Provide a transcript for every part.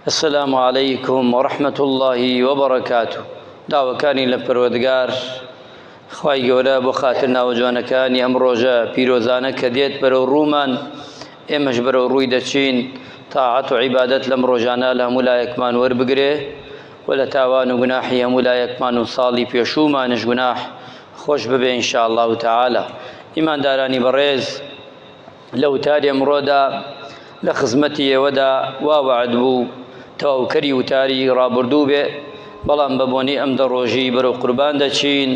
السلام علیکم و رحمت اللە و برکاته داوەکانی لە پەروەردگار خوای گەورە بۆ خاتر ناوە جوانەکانی ئەم ڕۆژە پیرۆزانە کە دێت بەرەو ڕوومان ئێمەش بەرەو ڕووی دەچین تاعەت و عیبادەت لەم ڕۆژانە لە هەموو لایەکمان وەربگرێ و لە تاوان و گوناحی هەموو لایەکمان و ساڵی پێشوومانش گوناح خۆش ببێ انشاءالله تعالی ئیماندارانی بەڕێز لە وتاری ئەمڕۆدا لە خزمەتی ئێوەدا وا وعد بوو تەواوکەری وتاری ڕابردوو بێ بەڵام بە بۆنی ئەم دە ڕۆژی بەرەو قوربان دەچین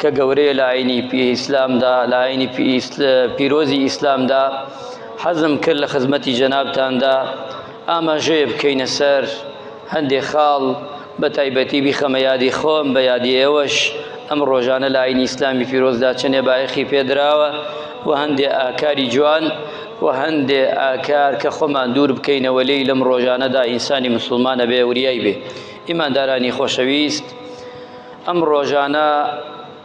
کە گەورەیە لە ئاینی پی ئیسلامدا لە ئاینی پیرۆزی ئیسلامدا حەزم کرد لە خزمەتی جەنابتاندا ئاماژەیە بکەینە سەر هەندێ خاڵ بە تایبەتی بیخەمە یادی خۆم، بە یادی ئێوەش ئەم ڕۆژانە لە ئاینی ئیسلامی پیرۆزدا چەنێ بایەخی پێ دراوە و هەندێ ئاکاری جوان و هەندێ ئاکار کە خۆمان دوور بکەینەوە لێی لەم ڕۆژانەدا ئینسانی مسوڵمان ئەبێ وریای بێ. ئیماندارانی خۆشەویست ئەم ڕۆژانە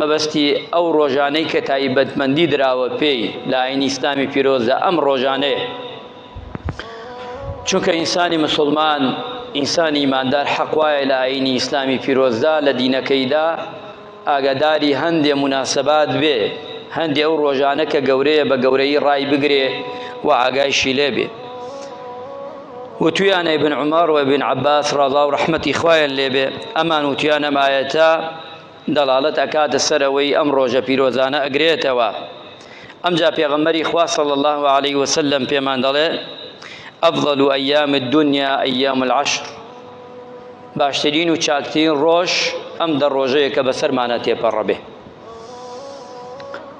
مەبەستی ئەو ڕۆژانەی کە تایبەتمەندی دراوە پێی لە ئاینی ئیسلامی پیرۆزدا ئەم ڕۆژانەیە چونکە ئینسانی مسلمان ئینسانی ئیماندار حەقوایە لە ئاینی ئیسلامی پیرۆزدا لە دینەکەیدا ئاگاداری هەندێ مناسبات بێ هەندێ ئەو ڕۆژانە کە گەورەیە بە گەورەی ڕای بگرێ و ئاگایشی لێ بێ وتویانە بن عمر و بن عباس ڕضا و ڕحمەتی خوایان لێبێ ئەمان وتیانە مایەتە دەڵاڵەت ئەکاتە سەر ئەوەی ئەم ڕۆژە پیرۆزانە ئەگرێتەوە ئەمجا پێغەمبەری خوا صلی الله علیه و سلم پێمان دەڵێ افضل ایام الدنیا ایام العشر باشترین و چاکترین ڕۆژ ئەم دە ڕۆژەیە کە بەسەرمانە تێپەڕەبێ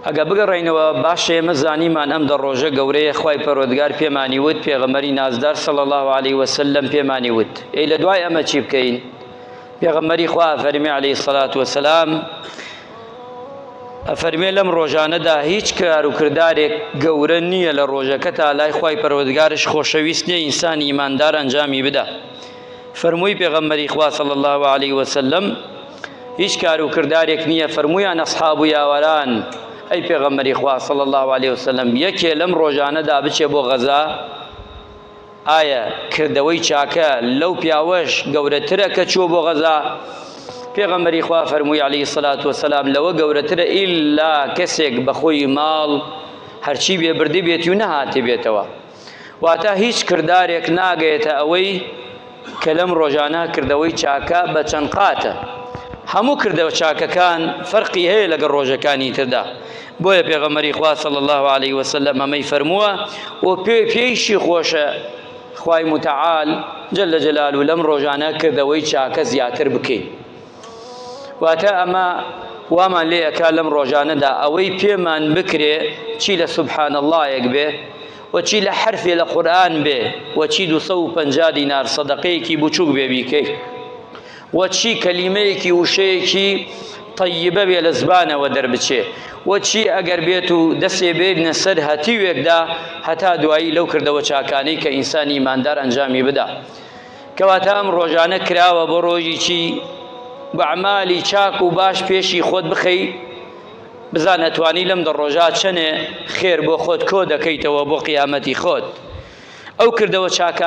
ئەگە بگەڕینەوە باشە ئێمە زانیمان ئەم دە ڕۆژە گەورەیە خی پەرۆدگار پێمانی وت پێغەمەری نازدار سەڵ الله عليه وسلم پێمانی وت ئەی لە دوای ئەمە چی بکەین؟ پێغەمبەری خوا فەرمی عەلەیهی سەڵات وەسەلام ئەفەرمێ لەم ڕۆژانەدا هیچ کار و کردارێک گەورە نییە لە ڕۆژەکە تا لای خی پەرۆدگارش خۆشەویست نیە ئینسان ئیماندار ئەنجامی بدا فەرمووی پێغەمبەری خوا صلی الله عليه وسلم هیچ کار و کردارێک نییە فەرمویان ئەسحاب و یاوەران ئەی پێغەمبەری خوا صلی الله عليه وسلم یەکێ لەم ڕۆژانەدا بچێ بۆ غەزا ئایا کردەوەی چاکە لەو پیاوەش گەورەترە کە چووە بۆ غەزا پێغەمبەری خوا فەرمووی عەلی سەلات وسلام لەوە گەورەترە ئیلا کەسێک بەخۆی ماڵ هەرچی بێ بردی بێتی و نەهاتی بێتەوە واتە هیچ کردارێک ناگەێتە ئەوەی کە لەم ڕۆژانە کردەوەی چاکە بە چەند قاتە هەموو کردەوە چاکەکان فەرقی هەیە لەگە ڕۆژەکانی تردا بۆیە پێغەمەری خوا صلی الله عليه وسلم ئەمەی فەرمووە و پێ پێیشی خۆشە خوای متعال جل جلال و لەم ڕۆژانە کردەوەی چاکە زیاتر بکەین واتە ئەمە وامان لێ ئەکا لەم ڕۆژانەدا ئەوەی پێمان بکرێ چی لە سبحان اللهەک بێ وە چی لە حەرفێ لە قورئان بێ وە چی دوو سەد و پەنجا دینار سەدەقەیەکی بچووک بێ بیکەی وە چی کەلیمەیەکی وشەیەکی طیبە بێ لە زبانەوە دەربچێ وە چی ئەگەر بێت و دەسێ بێت نەسەر هەتیوێکدا هەتا دوایی لەو کردەوە چاکانەی کە ئینسانی ماندار ئەنجامی بدا کەواتە ئەم ڕۆژانە کراوە بۆ ڕۆژی چی بەعمالی چاک و باش پێشی خۆت بخەی بزان ئەتوانی لەم دە ڕۆژا چەنێ خێر بۆ خۆت کۆ دەکەیتەوە بۆ قیامەتی خۆت ئەو کردەوە چاکانە